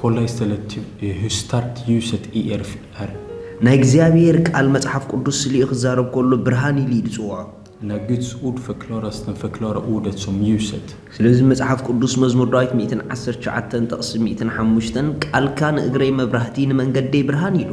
ኮላይ ስተለት ቲብ ህስታርት ዩሰት ኢኤርፍ ኣር። ናይ እግዚኣብሄር ቃል መጽሓፍ ቅዱስ ስሊኡ ክዛረብ ከሎ ብርሃን ኢሉ እዩ ዝጽውዖ። ናይ ግድስ ኡድ ፈክሎራ ስተን ፈክሎራ ኡደት ሶም ዩሰት። ስለዚ መጽሓፍ ቅዱስ መዝሙር ዳዊት ሚእትን ዓሰርተ ትሽዓተን ጥቕሲ ሚእትን ሓሙሽተን ቃልካ ንእግረይ መብራህቲ ንመንገደይ ብርሃን ኢሉ።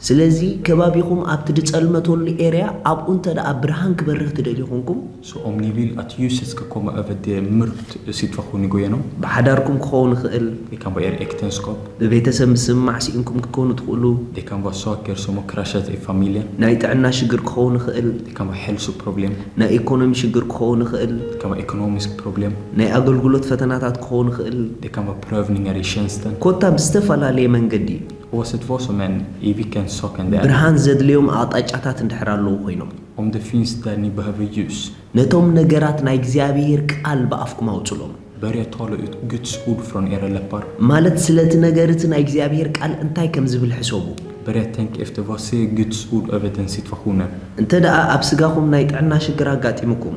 ስለዚ ከባቢኹም ኣብቲ ድጸልመተሉ ኤርያ ኣብኡ እንተ ደኣ ብርሃን ክበርህ ትደልዩ ኹንኩም። ሶ ኦም ኒ ቪል ኣት ዩስ ስከ ኮመ ኦቨ ደ ምርብት ሲትፈ ኩኒ ጎየኖም። ብሓዳርኩም ክኸውን ይኽእል። ደ ካን ቫ ኤር ኤክተንስኮፕ። ብቤተሰብ ምስምማዕ ሲኢንኩም ክትኮኑ ትኽእሉ። ደ ካን ቫ ሶክ ኤር ሶመ ክራሸት ኤ ፋሚለ። ናይ ጥዕና ሽግር ክኸውን ይኽእል። ደ ካን ቫ ሄልሱ ፕሮብሌም። ናይ ኢኮኖሚ ሽግር ክኸውን ይኽእል። ደ ካን ቫ ኤኮኖሚስክ ፕሮብሌም። ናይ ኣገልግሎት ፈተናታት ክኸውን ይኽእል። ደ ካን ቫ ፕረቭኒንገር ይ ሸንስተን። ኮታ ብዝተፈላለየ መንገዲ ብርሃን ዘድልዮም ኣቕጣጫታት እንድሕር ኣለዉ ኮይኖም። ነቶም ነገራት ናይ እግዚኣብሄር ቃል ብኣፍኩም ኣውጹሎም። ማለት ስለቲ ነገር እቲ ናይ እግዚኣብሄር ቃል እንታይ ከም ዝብል ሕሰቡ። እንተደኣ ኣብ ስጋኹም ናይ ጥዕና ሽግር ኣጋጢሙኩም።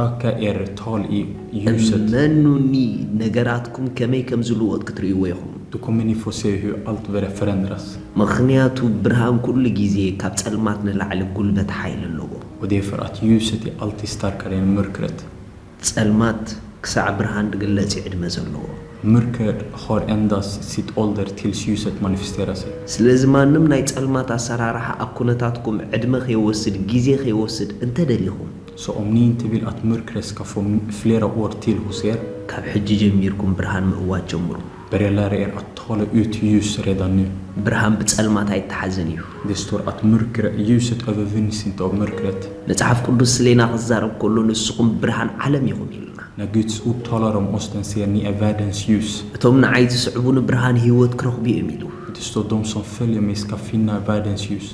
ኦከ ኤሪ ቶል ዩ ዩስት። እመኑኒ ነገራትኩም ከመይ ከም ዝልወጥ ክትርእይዎ ኢኹም። ዱ ኮመን ዩ ፎ ሴ ሁ ኣልት ቨረ ፍረንድረስ። ምኽንያቱ ብርሃን ኩሉ ግዜ ካብ ጸልማት ንላዕሊ ጉልበት ሓይሊ ኣለዎ። ኦክ ዴፈር ኣት ዩስት ዩ ኣልት ስታርከር ኤን ምርክረት። ጸልማት ክሳዕ ብርሃን ድግለጽ ዩ ዕድመ ዘለዎ። ምርከር ሆር ኤንዳስ ሲት ኦልደር ቲልስ ዩሰት ማኒፊስቴራ ሰይ። ስለዚ ማንም ናይ ጸልማት ኣሰራርሓ ኣብ ኩነታትኩም ዕድመ ከይወስድ ግዜ ከይወስድ እንተ ደሊኹም። ሰኦምኒን ትብል ኣት ምርክረስ ከ ፎ ፍሌራ ኦር ቲል ሁ ሴር? ካብ ሕጂ ጀሚርኩም ብርሃን ምእዋጅ ጀምሩ። በሬላ ሬኤር ኣት ታለ ኡት ዩስ ሬዳን ኑ። ብርሃን ብጸልማት ኣይተሓዝን እዩ። ደ ስቶር ኣት ምርክረ ዩሰት ኦቨ ቭንስን ቶብ ምርክረት። መጽሓፍ ቅዱስ ስሌና ክዛረብ ከሎ ንስኹም ብርሃን ዓለም ኢኹም ኢሉና። ን ግድስ ኡብ ታለ ሮም ኦስተን ሴር ኒኤ ቫደንስ ዩስ። እቶም ንዓይ ዝስዕቡኒ ብርሃን ህይወት ክረኽቡ እዮም ኢሉ። ደ ስቶር ዶም ሶም ፈልየ ሜስ ካፊና ቫደንስ ዩስ።